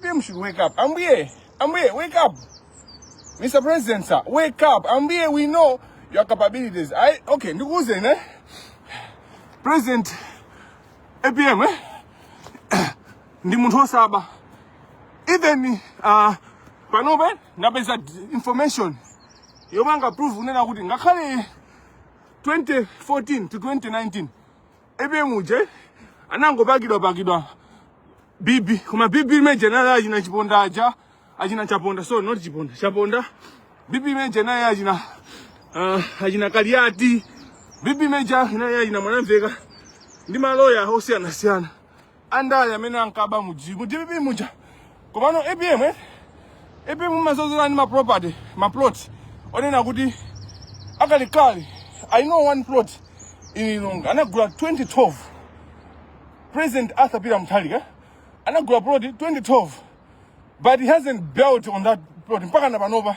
Apm should wake up. Ambuye, Ambuye, wake up. Mr. President, sir, wake up. Ambuye, we know your capabilities. I, okay, ndikuuzeni? President APM, eh? Ndi munthu osaba. Even uh, panopa ndapeza d- information yomwe ingaprove kunena kuti ngakhale 2014 to 2019 ija muja anangopakidwa pakidwa bibi koma bibi imene ija naye achina chiponda aja achina chaponda so not chiponda chaponda bibi imene ija naye achina uh, achina kaliati bibi imene ija naye achina mwanamveka ndi maloya osiyanasiyana andale amene ankaba mu G- mu dpp muja komano apm eh? apm mumaziona ndi ma property ma plot onena kuti akalekale i know one plot in lilongwe anagula 2012 president arthur peter mutharika anagula plot 2012 but he hasn't built on that plot mpaka na panopa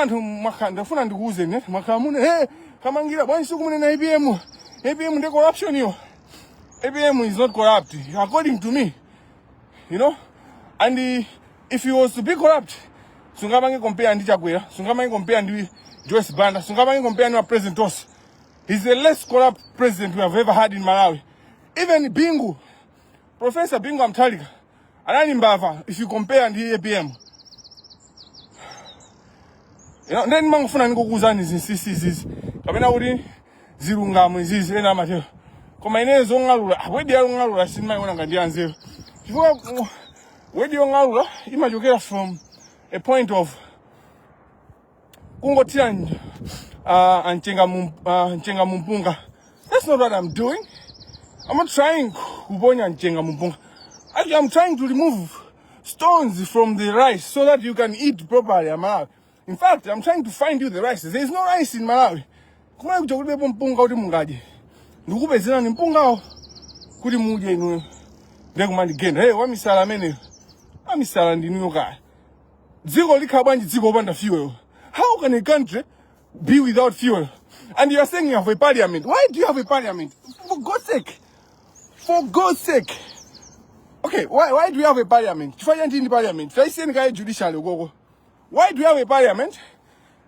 Anthu mwakhala ndikufuna ndikuuzeni eh, mwakhala munena eh, kamangira bwanji simukumunena APM APM ndi corruption yo APM is not corrupt according to me you know and uh, if he was to be corrupt sungamange compare ndi Chakwera sungamange compare ndi Joyce Banda sungamange compare ndi ma president onse he's the less corrupt president we have ever had in Malawi even Bingu Professor Bingu wa Mutharika anali mbava if you compare ndi apm you know nde ndimangofuna ndikuuzeni zinsisi izizi kapena kuti zilungamo izizi ena amatero koma ineyo zong'alula ah, wedi yong'alula sindimayiona ngati yanzeru chifukwa ku- wedi yong'alula imachokera from a point of kungothira uh, mchenga mu uh, mchenga mu mpunga that's not what i'm doing i'm not trying kuponya mchenga mu mpunga actually i'm trying to remove stones from the rice so that you can eat properly a malawi in fact i'm trying to find you the rice there is no rice in malawi kumene kuja kulibepo mpunga kuti mungadye ndikupezerani mpungawo kuti mudye inuyo ndiye kumandigenda hey wamisala ameneyo wamisala ndinuyo kaya dziko likhala bwanji dziko opanda fuel how can a country be without fuel and you are saying you have a parliament why do you have a parliament for god's sake for god's sake okay why, why do you have a parliament chifukwa chanji ndi parliament taisiyeni kaye judiciary ukoko why do you have a parliament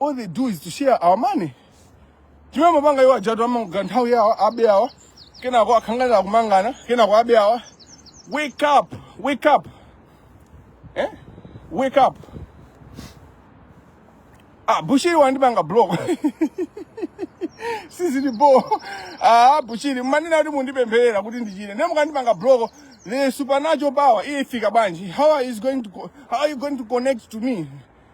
all they do is to share our money chimene mapanga iwo ajatu amangana nthawi yawo abe awa kenako akhangalira kumangana kenako abe awa wake up wake up eh? wake up ah bushiri wandipanga block sizili bo ah bushiri mmanena kuti mundipempherera kuti ndichire nde mukandipanga block the supernatural power ifika bwanji how is going to co- how are you going to connect to me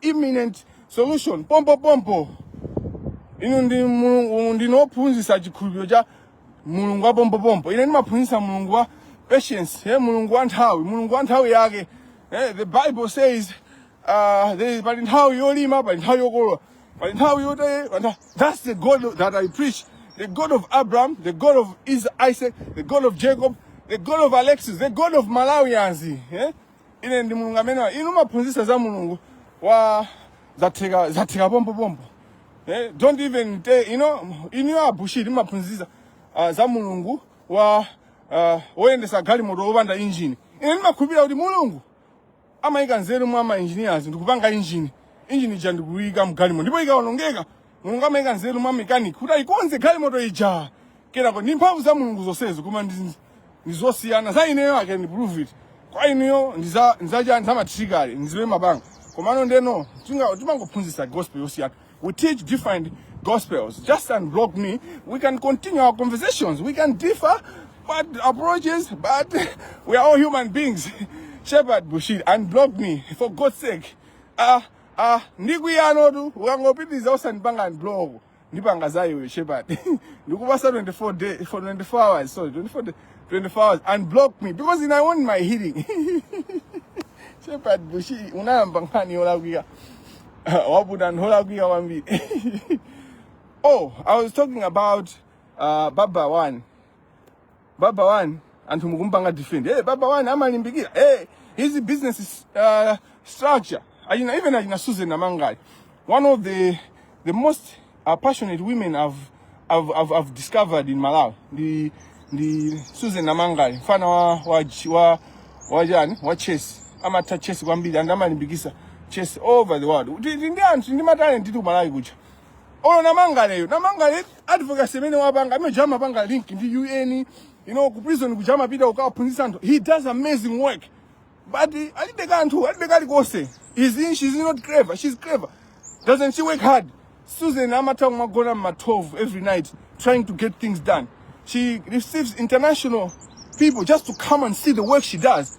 imminent solution pompo pompo inu ndi mulungu ndinu wophunzitsa chikhulupiriro cha mulungu wa pompo pompo ine ndimaphunzitsa mulungu wa patience eh, mulungu wa nthawi mulungu wa nthawi yake eh, the bible says uh, there is- pali nthawi yolima pali nthawi yokolola pali nthawi yote pali nthawi- that's the god that i preach the god of abraham the god of Is- isaac the god of jacob the god of alexis the god of malawians eh? ine ndi mulungu amenewa inu mumaphunzitsa za mulungu wa zatheka zatheka pompo pompo eh, don't even te, you know, inuyo a bushiri mumaphunzitsa uh, za mulungu wa uh, woyendetsa galimoto wopanda injini ine ndimakhulupirira kuti mulungu amayika nzeru mwa ma engineers ndikupanga injini injini ija ndikuyika mgalimoto ndipo ikawonongeka mulungu amaika nzeru mwa mekaniki kuti ayikonze galimoto ija kenako ndi mphamvu za mulungu zonsezi koma ndi- ndi zosiyana za ineyo i can prove it koma inuyo ndi za- ndi za chani za matrick trick ndi zimene mumapanga komano ndeno tinga- timangophunzitsa gospel yosiyana we teach different gospels just unblock me we can continue our conversations we can differ but approaches but we are all human beings shepherd bushiri unblock me for god's sake ah ah ndikwiyanotu ukangopitiriza osandipanga unblock ndipanga za iweyo shepherd ndikupasa 24 days for 24 hours sorry 24 day, 24 hours unblock me because ine i want my healing shepherd bushiri unayamba nkhani yolakwika waputa anthu olakwika kwambiri oh i was talking about uh, baba one baba wani anthu mukumpanga defend hey, baba wani amalimbikira hey, his business is, uh, structure achina even achina susan namangale one of the the most uh, passionate women I've, I've, I've, I've discovered in malawi ndi ndi susan namangale mfana wa wa wa wachani wa chess amatha chess kwambiri and amalimbikitsa chess over the world Ndi- ndi ndi anthu tili ndi matalent ku malawi kucha ono namangaleyo namangale advocacy imene wapanga amene uja amapanga link ndi un you know ku prison kuja amapita kukaphunzitsa anthu he does amazing work but eh, alibe kanthu alibe kalikonse is in she's not clever she's clever doesn't she work hard susan amatha kumagona m'ma 12 every night trying to get things done she receives international people just to come and see the work she does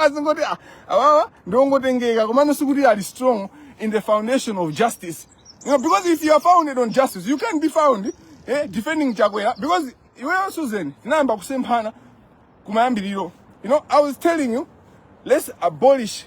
azingoti ah, awawa ndiwongotengeka komano sikuti ali strong in the foundation of justice you know, because if you are founded on justice you can't be found eh, defending chakwera because iweyo susan tinayamba kusemphana kumayambiriro you know i was telling you let's abolish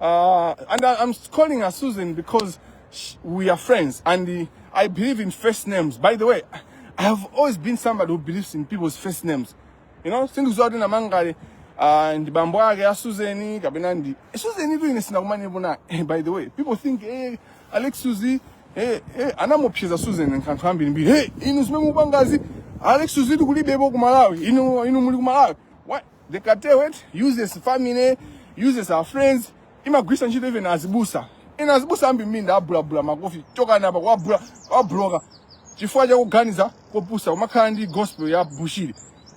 Uh, and I, am calling her Susan because she, we are friends and uh, I believe in first names. By the way, I have always been somebody who believes in people's first names. You know, things zote na mangale uh, ndi bambo ake a Susan kapena ndi eh, Susan tu ine sinakumane bona. Eh, by the way, people think hey, eh, Alex Suzy eh eh anamopseza Susan nkanthu ambiri mbiri. Hey, inu zimene mupangazi Alex Suzy tikulibepo ku Malawi. Inu inu muli ku Malawi. the cartel it uses family uses our friends imagwisa ntchito even azibusa ina azibusa ambi minda abulabula makofi chokani apa kwabula kwabloka chifukwa chakuganiza kopusa umakhala ndi gospel ya bushiri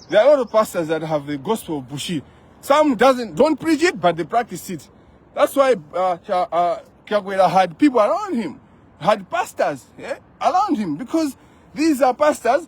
there are a lot of pastors that have the gospel of bushiri some doesn't don't preach it but they practice it that's why uh, Cha- uh, Chakwera had people around him had pastors yeah, around him because these are pastors